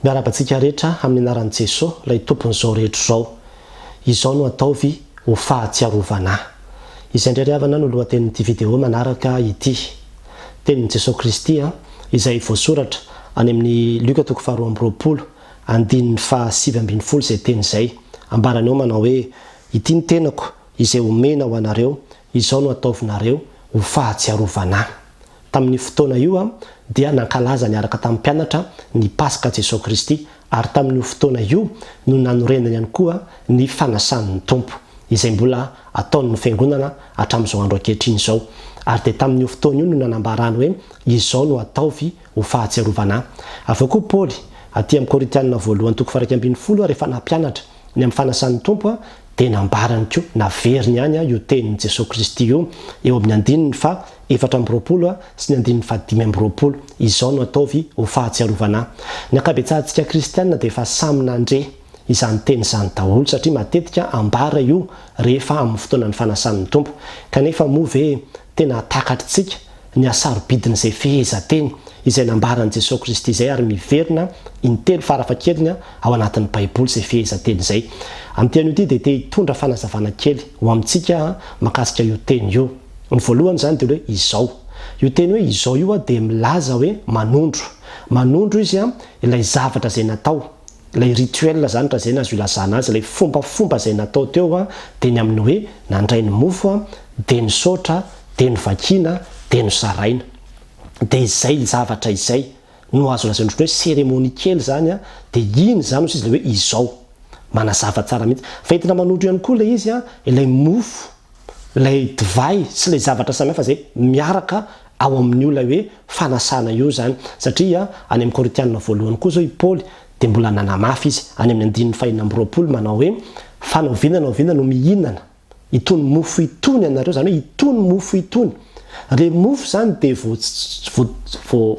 Miarahaba antsika rehetra amin'ny anaran'i Jesoa, ilay Tompon'izao rehetra izao. Izao no ataovy ho fahatsiarovana Ahy. Izay indray ry havana no lohatenin'ity video manaraka ity. Tenin'i Jesoa Kristy izay voasoratra any amin'ny Lioka toko faharoa amby roapolo, andininy fahasivy ambin'ny folo izay teny izay. Ambarany ao manao hoe, Ity ny tenako izay omena ho anareo, Izao no ataovinareo ho fahatsiarovana. Tamin'io fotoana io dia nankalaza niaraka tamin'ny mpianatra ny Paska Jesoa Kristy, ary tamin'io fotoana io no nanorenany ihany koa ny fanasan'ny Tompo, izay mbola ataon'ny Fiangonana hatramin'izao andro ankehitriny izao. Ary dia tamin'io fotoana io no nanambarany hoe, Izao no ataovy ho fahatsiarovana ahy. Avy eo koa Paoly, aty amin'ny Korintiana Voalohany toko faha iraika ambin'ny folo, rehefa nampianatra ny amin'ny fanasan'ny Tompo, Dia nambarany koa, naveriny ihany io tenin'i Jesoa Kristy io eo amin'ny andininy faha efatra amby roapolo sy ny andininy faha dimy amby roapolo, Izao no ataovy ho fahatsiarovana ahy. Ny ankabetsahantsika kristiana dia efa samy nandre izany teny izany daholo satria matetika ambara io rehefa amin'ny fotoanan'ny fanasan'ny Tompo. Kanefa moa ve Tena hatakatr'tsika ny hasarobidin'izay fehezanteny izay nambaran'i Jesoa Kristy izay ary miverina intelo farafahakeliny ao anatin'ny Baiboly izay fehezanteny izay. Amin'ity anio ity dia te hitondra fanazavana kely ho amintsika aho mahakasika io teny io. Ny voalohany izany dia hoe izao. Io teny hoe izao io dia milaza hoe manondro. Manondro izy ilay zavatra izay natao. Ilay rituel izany raha izay no azo ilazana azy, ilay fombafomba izay natao teo dia ny amin'ny hoe nandray ny mofo, dia nisaotra, dia novakiana, dia nozaraina. Dia izay zavatra izay no azo lazaina ohatran'ny hoe cérémonie kely izany, dia iny izany hozy izy ilay hoe izao. Manazava tsara mihitsy. Fa entina manondro ihany koa ilay izy, ilay mofo. Ilay divay sy ilay zavatra samihafa izay miaraka ao amin'io ilay hoe fanasana io izany. Satria any amin'ny Korintiana voalohany koa izao i Paoly dia mbola nanamafy izy, any amin'ny andininy fahenina amby roapolo, manao hoe, Fa na oviana na oviana no mihinana itony mofo itony ianareo, izany hoe itony mofo itony, Ireny mofo izany dia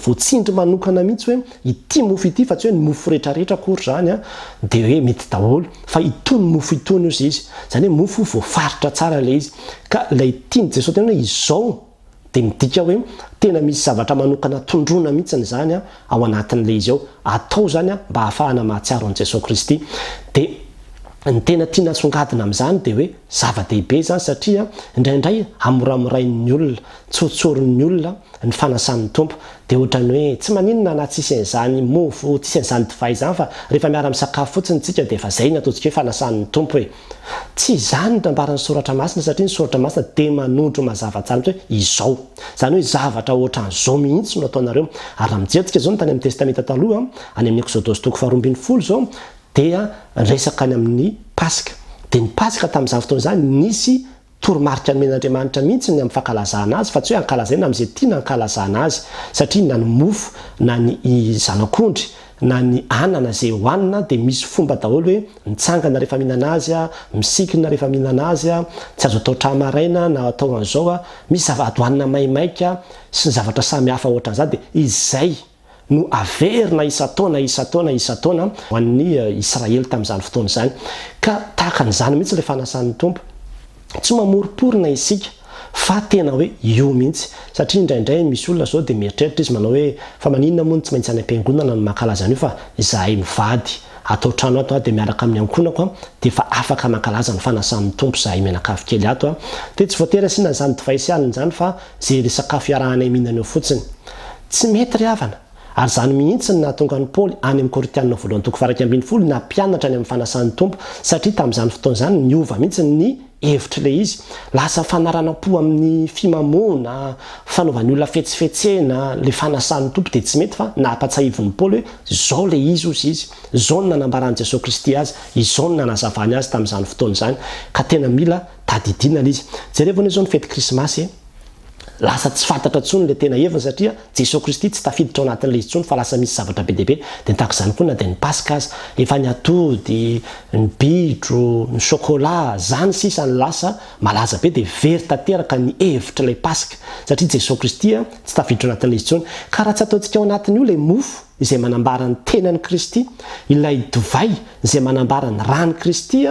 voatsindry manokana mihitsy hoe ity mofo ity fa tsy hoe ny mofo rehetra rehetra akory izany an, dia hoe mety daholo fa itony mofo itony ozy izy, izany hoe mofo voafaritra tsara ilay izy. Ka ilay tian'i Jesoa tena hoe izao dia midika hoe tena misy zavatra manokana tondroina mihitsy izany an ao anatin'ilay izy ao, atao izany an mba hahafahana mahatsiaro an'i Jesoa Kristy. Dia ny tena tiana asongadina amin'izany dia hoe. Zava-dehibe izany satria indraindray hamoramorain'ny olona, tsy hotsorin'ny olona ny fanasan'ny Tompo. Dia ohatran'ny hoe tsy maninona na tsisy an'izany mofo, tsisy an'izany divay izany fa rehefa miara-misakafo fotsiny isika dia efa izay ny ataontsika hoe fanasan'ny Tompo e! Tsy izany ny nambaran'ny Soratra Masina satria ny Soratra Masina dia manondro mazava tsara mihitsy hoe izao. Izany hoe zavatra ohatran'izao mihitsy no ataonareo. Ary raha mijery antsika izao ny tany amin'ny Testamenta Taloha, any amin'ny Eksodosy toko faharoa ambin'ny folo izao, dia resaka any amin'ny Paska. Dia ny Paska tamin'izany fotoana izany, nisy toromarika nomen'Andriamanitra mihitsy ny amin'ny fankalazana azy, fa tsy hoe ankalazaina amin'izay tiana ankalazana azy. Satria na ny mofo, na ny zanak'ondry, na ny anana izay hohanina, dia misy fomba daholo hoe mitsangana rehefa mihinana azy, misikina rehefa mihinana azy, tsy azo atao tra maraina na atao an'izao, misy zava-dohanina maimaika, sy ny zavatra samy hafa hoatran'izany. Dia izay. no averina isan-taona, isan-taona, isan-taona ho an'ny Israely tamin'izany fotoana izany. Ka tahaka an'izany mihitsy ilay fanasan'ny Tompo. Tsy mamoriporina isika fa tena hoe io mihitsy. Satria indraindray misy olona izao dia mieritreritra izy manao hoe fa maninona moa no tsy maintsy any am-piangonana no mankalaza an'io fa izahay mivady ato an-trano ato dia miaraka amin'ny ankohonako dia efa afaka mankalaza ny fanasan'ny Tompo izahay mianakavy kely ato. Dia tsy voatery asiana izany divay sy alina izany fa izay resakafo iarahanay mihinana eo fotsiny. Tsy mety ry havana! Ary izany mihitsy no nahatonga an'i Paoly any amin'ny Korintianina voalohany toko faha-iraika ambin'ny folo nampianatra ny amin'ny fanasan'ny Tompo, satria tamin'izany fotoana izany niova mihitsy ny hevitr'ilay izy. Lasa fanaranam-po amin'ny fimamoana, fanaovan'ny olona fetsifetsena, ilay fanasan'ny Tompo dia tsy mety fa nampatsaivin'i Paoly hoe izao ilay izy hozy izy, izao no nanambaran'i Jesoa Kristy azy, izao no nanazavany azy tamin'izany fotoana izany, ka tena mila tadidiana ilay izy. Jerevo anie izao ny fety krismasy e! Lasa tsy fantatra intsony ilay tena heviny satria Jesoa Kristy tsy tafiditra ao anatin'ilay izy intsony fa lasa misy zavatra be dia be dia tahaka izany koa na dia ny Paska aza. Efa ny atody, ny bitro, ny chocolat, izany sisa no lasa malaza be dia very tanteraka ny hevitr'ilay Paska satria Jesoa Kristy tsy tafiditra ao anatin'ilay izy intsony. Ka raha tsy ataontsika ao anatin'io ilay mofo, izay manambara ny tenan'i Kristy, ilay divay izay manambara ny ran'i Kristy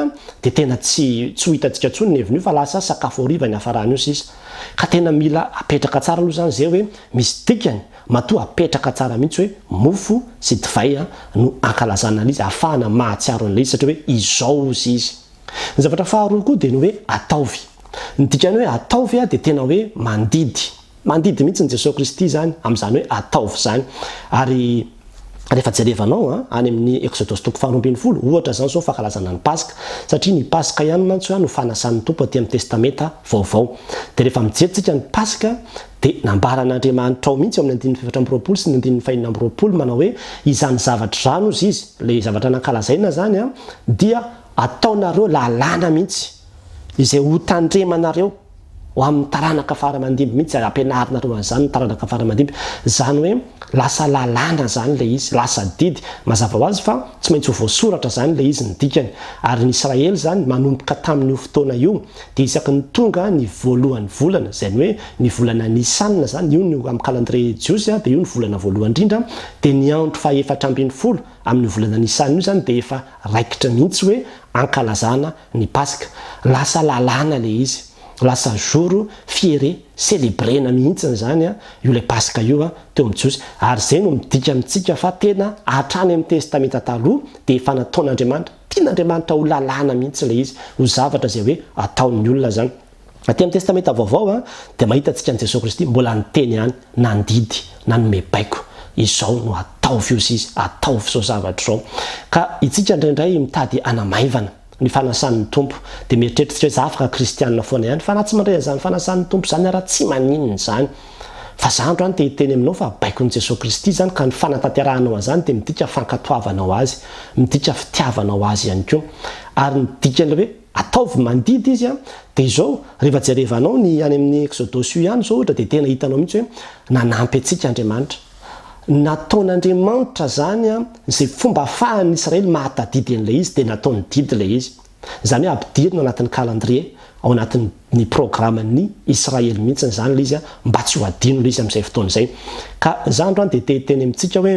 dia tena tsy tsy ho hitantsika intsony ny heviny io fa lasa sakafo hariva niafarany io sisa. Ka tena mila apetraka tsara aloha izany izay hoe misy dikany, matoa apetraka tsara mihitsy hoe mofo sy divay no ankalazana an'Izy ahafahana mahatsiaro an'ilay izy satria hoe izao ozy izy. Ny zavatra faharoa koa dia ny hoe ataovy. Ny dikany hoe ataovy dia tena hoe mandidy. Mandidy mihitsy ny Jesoa Kristy izany amin'izany hoe ataovy izany. Ary rehefa jerevanao any amin'ny Eksodosy toko faharoa ambin'ny folo, ohatra izany izao ny fankalazana ny Paska, satria ny Paska ihany mantsy no fanasan'ny Tompo aty amin'ny Testamenta Vaovao. Dia rehefa mijery tsika ny Paska, dia nambaran'Andriamanitra ao mihitsy ao amin'ny andininy fahefatra amby roapolo sy ny andininy fahenina amby roapolo manao hoe, izany zavatra izany hozy izy, ilay zavatra nankalazaina izany, dia ataonareo lalàna mihitsy, izay hotandremanareo. ho amin'ny taranaka faramandimby mihitsy ary ampianarinareo an'izany ny taranaka faramandimby, izany hoe lasa lalàna izany ilay izy, lasa didy, mazava ho azy fa tsy maintsy ho voasoratra izany ilay izy ny dikany, ary ny Israely izany manomboka tamin'io fotoana io dia isaky ny tonga ny voalohan'ny volana, izany hoe ny volana Nisana izany, io no amin'ny calendrier jiosy dia io no volana voalohany indrindra, dia ny andro faha efatra ambin'ny folo amin'io volana Nisana io izany dia efa raikitra mihitsy hoe ankalazana ny paska, lasa lalàna le izy, lasa jour fiere, celebrena mihitsiny zany an, io le paska io an, teo amin'ny jiosy, ary zay no midika amintsika fa tena hatrany amin'ny testamenta taloha dia efa nataon'Andriamanitra, tian'Andriamanitra ho lalàna mihitsy le izy, ho zavatra zay hoe ataon'ny olona zany. Aty amin'ny Testamenta Vaovao dia mahitantsika an'i Jesoa Kristy mbola niteny ihany, nandidy, nanome baiko, izao no ataovy io sy izy, ataovy izao zavatra izao. Ka itsika indraindray mitady hanamaivana ny fanasan'ny Tompo dia mieritreritrtsika hoe za afaka kristianina foana ihany, fa na tsy mandray an'izany fanasan'ny Tompo izany ara tsy maninona izany. Fa za androany te hiteny aminao fa baikon'i Jesoa Kristy izany ka ny fanatanterahanao an'izany dia midika fankatoavanao Azy, midika fitiavanao Azy ihany koa. Ary ny dikan'ilay hoe. Ataovy mandidy izy an! Dia izao, rehefa jerevanao ny any amin'ny Exodosy io ihany izao ohatra dia tena hitanao mihitsy hoe nanampy antsika Andriamanitra. Nataon'Andriamanitra izany an, izay fomba ahafahan'ny Israely mahatadidy an'ilay izy dia nataony didy ilay izy. Izany hoe ampidirina anatin'ny calendrier, ao anatin'ny programan'ny Israely mihitsy izany ilay izy an, mba tsy ho adino ilay izy amin'izay fotoana izay. Ka izaho androany dia te hiteny amintsika hoe.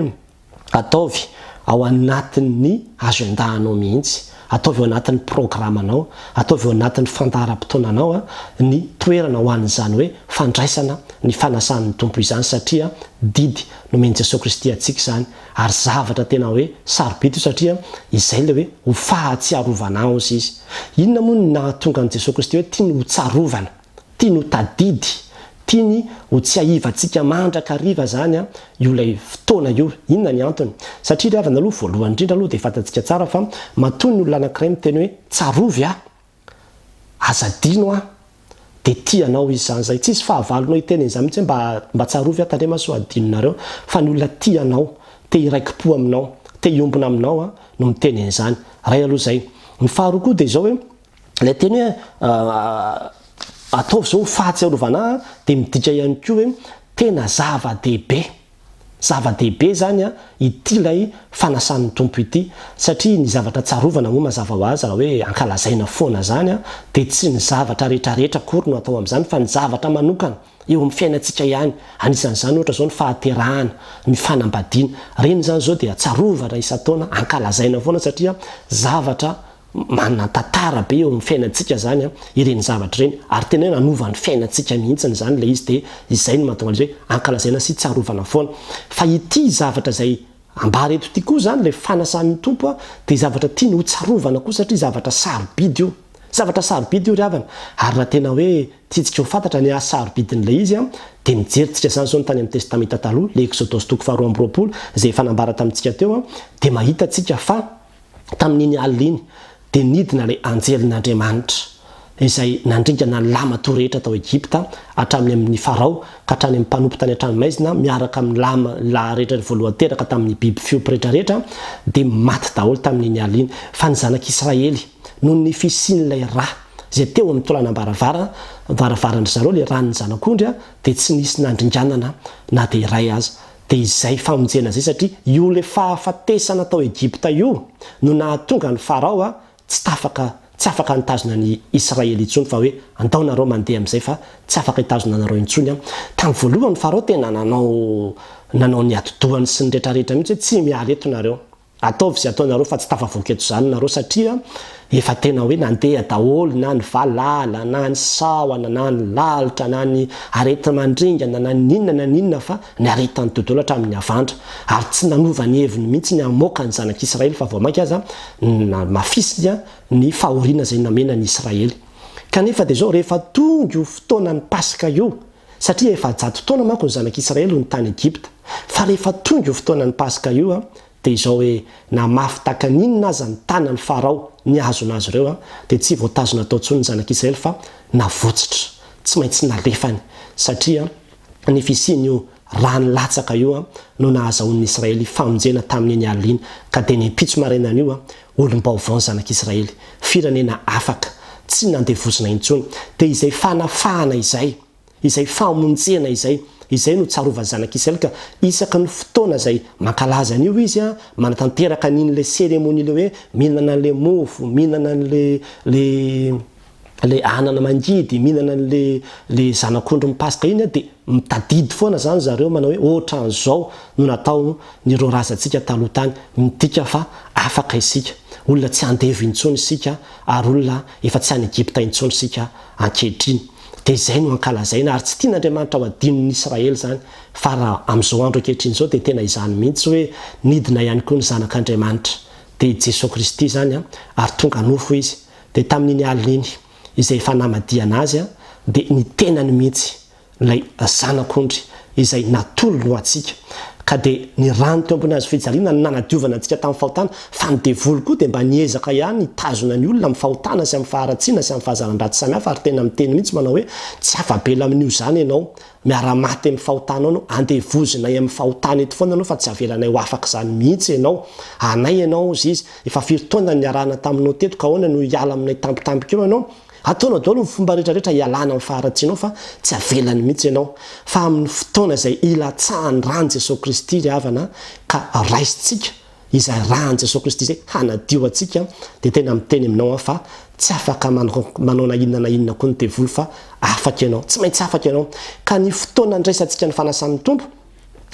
Ataovy ao anatin'ny agenda anao mihitsy, ataovy ao anatin'ny programanao, ataovy ao anatin'ny fandaharam-potoananao ny toerana ho an'izany hoe fandraisana ny fanasan'ny Tompo izany satria didy nomen'i Jesoa Kristy antsika izany ary zavatra tena hoe sarobidy io satria izay ilay hoe ho fahatsiarovana azy izy. Inona moa no nahatonga an'i Jesoa Kristy hoe tiany hotsarovana? Tiany ho tadidy, tiany ho tsiahivantsika mandrakariva izany io ilay fotoana io. Inona ny antony? Satria ry havana aloha, voalohany indrindra aloha dia fantantsika tsara fa matoa ny olona anankiray miteny hoe tsarovy aho, aza adino aho, dia tia anao izy izany izay. Tsisy fahavalonao hiteny an'izany mihitsy hoe mba tsarovy aho, tandremo aho sao adinonareo. Fa ny olona tia anao, te hiraiki-po aminao, te hiombona aminao no miteny an'izany. Iray aloha izay. Ny faharoa koa dia izao hoe Ilay teny hoe ataovy izao ho fahatsiarovana ahy dia midika ihany koa hoe tena zava-dehibe. Zava-dehibe izany ity ilay fanasan'ny Tompo ity satria ny zavatra tsarovana moa mazava ho azy raha hoe ankalazaina foana izany dia tsy ny zavatra rehetrarehetra akory no atao amin'izany fa ny zavatra manokana eo amin'ny fiainantsika ihany. Anisan'izany ohatra izao ny fahaterahana, ny fanambadiana. Ireny izany izao dia tsarovana isan-taona, ankalazaina foana satria zavatra Manan-tantara be eo amin'ny fiainantsika izany ireny zavatra ireny, ary tena hoe nanova ny fiainantsika mihitsy izany ilay izy, dia izay no mahatonga an'izay hoe ankalazaina sy tsarovana foana. Fa ity zavatra izay ambara eto ity koa izany, ilay fanasan'ny Tompo, dia zavatra tiany hotsarovana koa satria zavatra sarobidy io. Zavatra sarobidy io ry havana, ary raha tena hoe tiantsika ho fantatra ny hahasarobidin'ilay izy, dia mijerintsika izany izao ny tany amin'ny Testamenta Taloha, ilay Eksodosy toko faharoa amby roapolo, izay efa nambara tamintsika teo, dia mahita tsika fa, tamin'iny alina iny, dia nidina ilay anjelin'Andriamanitra, izay nandringana ny lahy matoa rehetra tao Egypta, hatramin'ny amin'i Farao ka hatrany amin'ny mpanompo tany an-tranomaizina, miaraka amin'ny lahy lahy rehetra ny voalohany teraka tamin'ny biby fiompy rehetra rehetra, dia maty daholo tamin'iny alina iny. Fa ny zanak'Israely, noho ny fisian'ilay rà izay teo amin'ny toranam-baravara, varavaran-dry zareo, ilay ràn'ny zanak'ondry, dia tsy nisy nandringanana na dia iray aza. Dia izay famonjena izay satria io ilay fahafatesana tao Egypta io no nahatonga an'i Farao a tsy tafaka tsy afaka nitazona an'i Israely intsony fa hoe andao nareo mandeha amin'izay fa tsy afaka hitazona anareo intsony a. Tamin'ny voalohany Farao tena nanao nanao ny atidohany sy ny retraretra mihitsy hoe tsy miala eto nareo. Ataovy izay ataonareo fa tsy tafavoaka eto izany nareo satria efa tena hoe nandeha daholo na ny valala na ny sahona na ny lalitra na ny areti-mandringana na ny inona na ny inona fa niaretan'ny dodolo hatramin'ny havandra ary tsy nanova ny heviny mihitsy ny hamoaka ny zanak'Israely fa vao mainka aza namafisiny ny fahoriana izay namena an'i Israely kanefa dia izao rehefa tonga io fotoanan'ny Paska io satria efajato taona manko ny zanak'Israely no tany Egypta, fa rehefa tonga io fotoanan'ny Paska io dia izao hoe na mafy takan inona aza ny tanan'i Farao nihazona azy ireo dia tsy voatazona tao intsony ny zanak'Israely fa navotsitra, tsy maintsy nalefany, satria ny fisian'io rano latsaka io no nahazahoan'ny Israely famonjena tamin'iny alina iny, ka dia ny ampitso marainan'io Olom-baovao ny Zanak'Israely, firenena afaka, tsy nandevozina intsony. Dia izay fanafahana izay, izay famonjena izay, izay no tsarovan'ny Zanak'Israely ka isaka ny fotoana izay mankalaza an'io izy, manatanteraka an'iny ilay cérémonie ilay hoe mihinana an'ilay mofo, mihinana an'ilay, ilay. le anana mangidy mihinana anle le zanak'ondry mipasoka iny de mitadidy foana zany zareo manao hoe otran'zao no natao ny ro razantsika taloha tany midika fa afaka isika olona tsy andevo intsony isika ary olona efa tsy any egypta intsony isika ankehitriny de izay no ankalazaina ary tsy tian'andriamanitra ho adinon'ny israely zany fa raha am'zao andro ankehitriny zao de tena izany mihitsy hoe nidina ihany koa ny zanak'andriamanitra de i jesoa kristy zany ary tonga nofo izy Dia tamin'iny alina iny, izay efa namadihana azy, dia ny tenany mihitsy, ilay Zanak'ondry izay natolony ho antsika, ka dia ny rany teo ambony hazofijaliana no nanadiovana antsika tamin'ny fahotana, fa ny devoly koa dia mba niezaka ihany hitazona ny olona amin'ny fahotana sy amin'ny faharatsiana sy amin'ny fahazaran-dratsy samihafa, ary tena miteny mihitsy manao hoe, tsy afa-bela amin'io izany ianao, miara-maty amin'ny fahotanao ianao, andevozinay amin'ny fahotana eto foana ianao fa tsy avelanay ho afaka izany mihitsy ianao, anay ianao, hozy izy. Efa firy taona niarahana taminao teto ka ahoana no hiala aminay tampotampoka eo ianao? Ataonao daholo ny fomba rehetra rehetra hialana amin'ny faharatsianao fa tsy avelany mihitsy ianao. Fa amin'ny fotoana izay hilatsahan'ny ran'i Jesoa Kristy ry havana ka raisintsika izay ran'i Jesoa Kristy izay hanadio antsika dia tena miteny aminao aho fa tsy afaka manao na inona na inona koa ny devoly fa afaka ianao. Tsy maintsy afaka ianao. Ka ny fotoana andraisantsika ny fanasan'ny Tompo,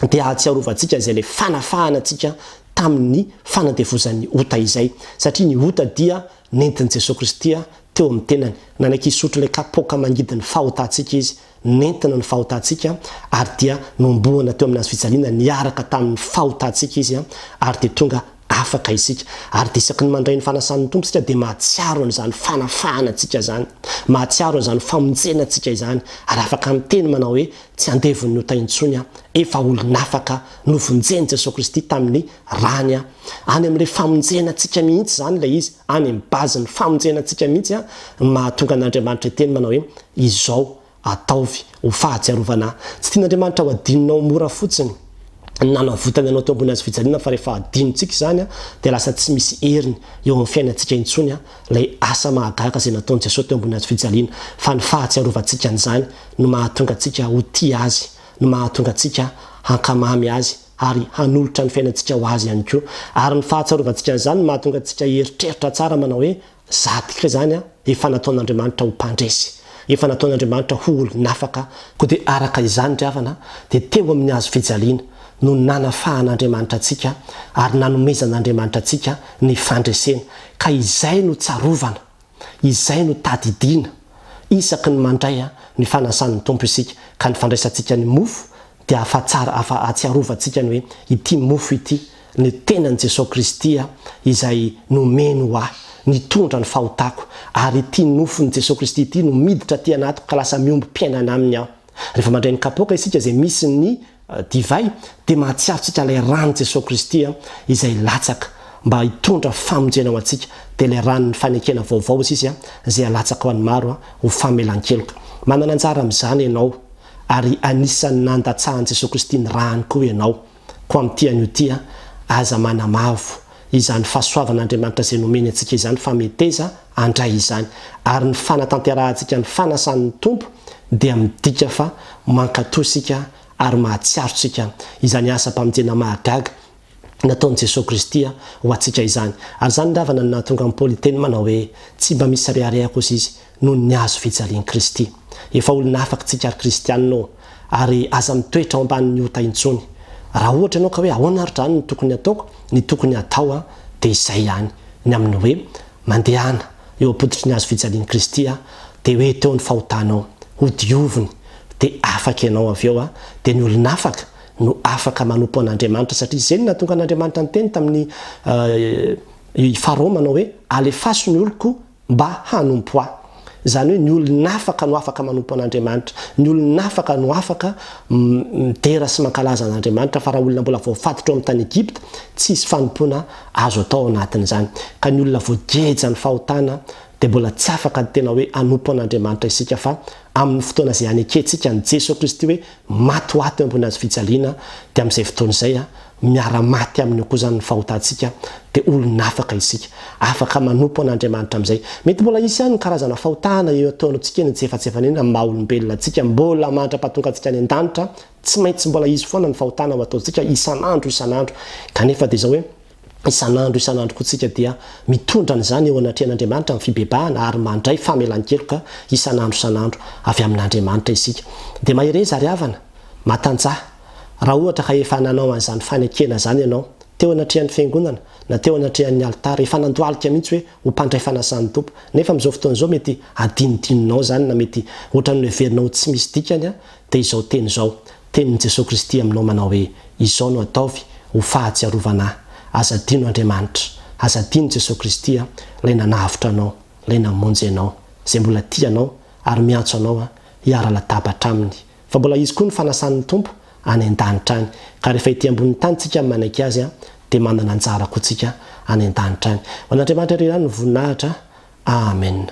dia ahatsiarovantsika izay ilay fanafahana antsika tamin'ny fanandevozan'ny ota izay, satria ny ota dia nentin'i Jesoa Kristy teo amin'ny tenany. Nanaiky hisotro ilay kapoaka mangidy ny fahotantsika Izy, nentina ny fahotantsika, ary dia nohomboana teo amin'ny hazo fijaliana niaraka tamin'ny fahotantsika Izy, ary dia tonga Afaka isika, ary dia isaky ny mandray ny fanasan'ny Tompo isika dia mahatsiaro an'izany fanafahana antsika izany, mahatsiaro an'izany famonjena antsika izany, ary afaka miteny manao hoe, Tsy andevon'ny ota intsony aho, efa olon'afaka aho, novonjen'i Jesoa Kristy tamin'ny Rany aho. Any amin'ilay famonjena antsika mihitsy izany ilay izy, any amin'ny base-n'ny famonjena antsika mihitsy an, mahatonga an'Andriamanitra hiteny manao hoe, Izao, Ataovy ho fahatsiarovana ahy. Tsy tian'Andriamanitra ho adinonao mora fotsiny ny nanavotany anao teo ambony hazo fijaliana fa rehefa adinontsika izany dia lasa tsy misy heriny eo amin'ny fiainantsika intsony ilay asa mahagaga izay nataon'i Jesoa teo ambony hazo fijaliana fa ny fahatsiarovantsika an'izany no mahatonga antsika ho tia Azy no mahatonga antsika hankamamy Azy ary hanolotra ny fiainantsika ho Azy ihany koa ary ny fahatsiarovantsika an'izany no mahatonga antsika hieritreritra tsara manao hoe Zadik re zany a, efa nataon'Andriamanitra ho mpandresy, efa nataon'Andriamanitra ho olon'afaka, koa dia araka izany ry havana dia teo amin'ny hazo fijaliana no nanafahan'Andriamanitra antsika ary nanomezan'Andriamanitra antsika ny fandresena, ka izay no tsarovana, izay no tadidiana isaky ny mandray ny fanasan'ny Tompo isika, ka ny fandraisantsika ny mofo dia afa-tsara afa-ahatsiarovantsika ny hoe ity mofo ity ny tenan'i Jesoa Kristy izay nomeny ho ahy, nitondra ny fahotako, ary ity nofon'i Jesoa Kristy ity no miditra aty anatiko ka lasa miombom-piainana aminy aho. Rehefa mandray ny kapoaka isika izay misy ny divay dia mahatsiaro tsika ilay ran'i Jesoa Kristy izay latsaka mba hitondra famonjena ho antsika, dia ilay ran'ny fanekena vaovao hoy sisa izay alatsaka ho an'ny maro ho famelan-keloka. Manana anjara amin'izany ianao. Ary anisan'ny nandatsahan'i Jesoa Kristy ny rany koa ianao, koa amin'ity anio ity an, aza manamavo izany fahasoavan'Andriamanitra izay nomeny antsika izany fa meteza handray izany. Ary ny fanatanterahantsika ny fanasan'ny Tompo dia midika fa mankatò isika ary mahatsiaro tsika izany asam-pamonjena mahagaga Nataon'i Jesoa Kristy ho antsika izany, ary izany ny ravana no nahatonga an'i Paoly hiteny manao hoe, Tsy mba misy rehareha kosa izy noho ny hazo fijalian'i Kristy. Efa olona afaka isika ry Kristianina ô! Ary aza mitoetra ao ambanin'ny ota intsony. Raha ohatra ianao ka hoe ahoana ary izany no tokony hataoko, ny tokony hatao dia izay ihany, ny amin'ny hoe, mandehana eo am-pototry ny hazo fijalian'i Kristy dia hoe teo ny fahotanao, hodioviny, dia afaka ianao avy eo, dia ny olona afaka, no afaka manompo an'Andriamanitra, satria izay no nahatonga an'Andriamanitra niteny tamin'i i Farao manao hoe, Alefaso ny oloko mba hanompo ahy. Izany hoe ny olon'afaka no afaka manompo an'Andriamanitra, ny olon'afaka no afaka midera sy mankalaza an'Andriamanitra, fa raha olona mbola voafatotra ao amin'ny tany Egypta, tsy hisy fanompoana azo atao ao anatin'izany. Ka ny olona voageja ny fahotana dia mbola tsy afaka ny tena hoe hanompo an'Andriamanitra isika, fa amin'ny fotoana izay hanekentsika an'i Jesoa Kristy hoe Matoato eo ambony hazo fijaliana, dia amin'izay fotoana izay, miara-maty aminy eo koa izany ny fahotantsika, dia olona afaka isika. Afaka manompo an'Andriamanitra amin'izay. Mety mbola hisy ihany ny karazana fahotana eo an-taonantsika eny, tsy efa tsy efa an'iny amin'ny maha-olombelona antsika, mbola mandra-pahatongantsika any an-danitra, tsy maintsy mbola hisy foana ny fahotana ho ataontsika isan'andro isan'andro, kanefa dia izao hoe, Isan'andro isan'andro koa tsika dia mitondra an'izany eo anatrehan'Andriamanitra ny fibebahana ary mandray famelan-keloka isan'andro isan'andro avy amin'Andriamanitra isika. Dia mahereza ry havana, matanjaha. Raha ohatra ka efa nanao an'izany fanekena izany ianao, teo anatrehan'ny Fiangonana na teo anatrehan'ny alitara, efa nandohalika mihitsy hoe ho mpandray fanasan'ny Tompo, nefa amin'izao fotoana izao mety hadinodinonao izany na mety ohatran'ny noheverinao ho tsy misy dikany dia izao teny izao, Tenin'i Jesoa Kristy aminao manao hoe, Izao no ataovy ho fahatsiarovana ahy. Aza adino Andriamanitra. Aza adino Jesoa Kristy a, Ilay nanavotra anao, Ilay namonjy anao, Izay mbola tia anao ary miantso anao a, hiara-latabatra Aminy. Fa mbola hisy koa ny fanasan'ny Tompo any an-danitra any. Ka rehefa ety ambonin'ny tany tsika no manaiky Azy a, dia manana anjara koa tsika any an-danitra any. Ho an'Andriamanitra irery ihany ny voninahitra. Amen.